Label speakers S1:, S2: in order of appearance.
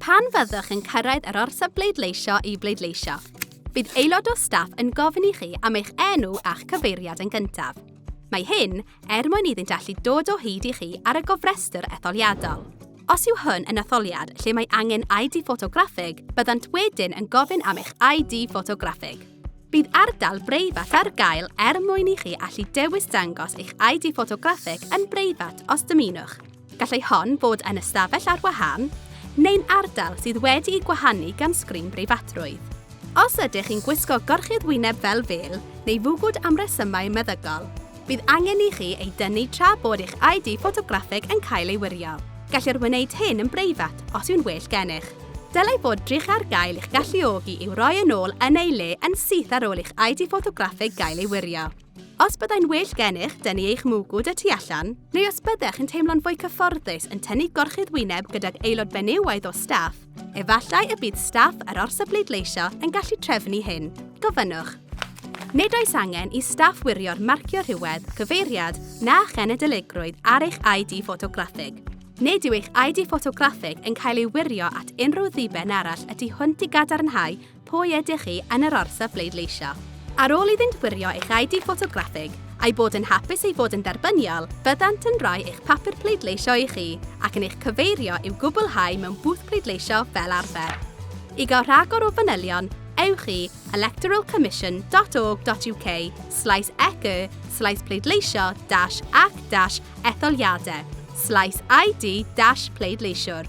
S1: Pan fyddwch yn cyrraedd yr orsaf bleidleisio i bleidleisio, bydd aelod o staff yn gofyn i chi am eich enw a'ch cyfeiriad yn gyntaf. Mae hyn er mwyn iddynt allu dod o hyd i chi ar y gofrestr etholiadol. Os yw hwn yn etholiad lle mae angen ID ffotograffig, byddant wedyn yn gofyn am eich ID ffotograffig. Bydd ardal breifat ar gael er mwyn i chi allu dewis dangos eich ID ffotograffig yn breifat os dymunwch. Gallai hon fod yn ystafell ar wahân neu'n ardal sydd wedi'i gwahanu gan sgrin breifatrwydd. Os ydych chi'n gwisgo gorchudd wyneb fel fel neu fwgwd am resymau meddygol, bydd angen i chi ei dynnu tra bod eich ID ffotograffeg yn cael ei wirio. Gellir wneud hyn yn breifat os yw'n well gennych. Dylai fod drych ar gael i'ch galluogi i'w roi yn ôl yn ei le yn syth ar ôl i'ch ID ffotograffeg gael ei wirio. Os byddai'n well gennych dynnu eich mwgwd y tu allan, neu os byddech yn teimlo'n fwy cyfforddus yn tynnu gorchudd wyneb gydag aelod benywaidd o staff, efallai y bydd staff yr orsaf bleidleisio yn gallu trefnu hyn. Gofynnwch. Nid oes angen i staff wirio'r marcio rhywedd, cyfeiriad, na chenedligrwydd ar eich ID ffotograffig. Nid yw eich ID ffotograffig yn cael ei wirio at unrhyw ddiben arall y tu hwnt i gadarnhau Pwy ydych chi yn yr orsaf bleidleisio? Ar ôl iddynt wirio eich ID ffotograffig a'i bod yn hapus ei fod yn dderbyniol, byddant yn rhoi eich papur pleidleisio i chi ac yn eich cyfeirio i'w gwblhau mewn bwth pleidleisio fel arfer. I gael rhagor o fanylion, ewch i electoralcommission.org.uk slaes ec y slaes pleidleisio dash ac dash etholiadau slaes ID dash pleidleisiwr.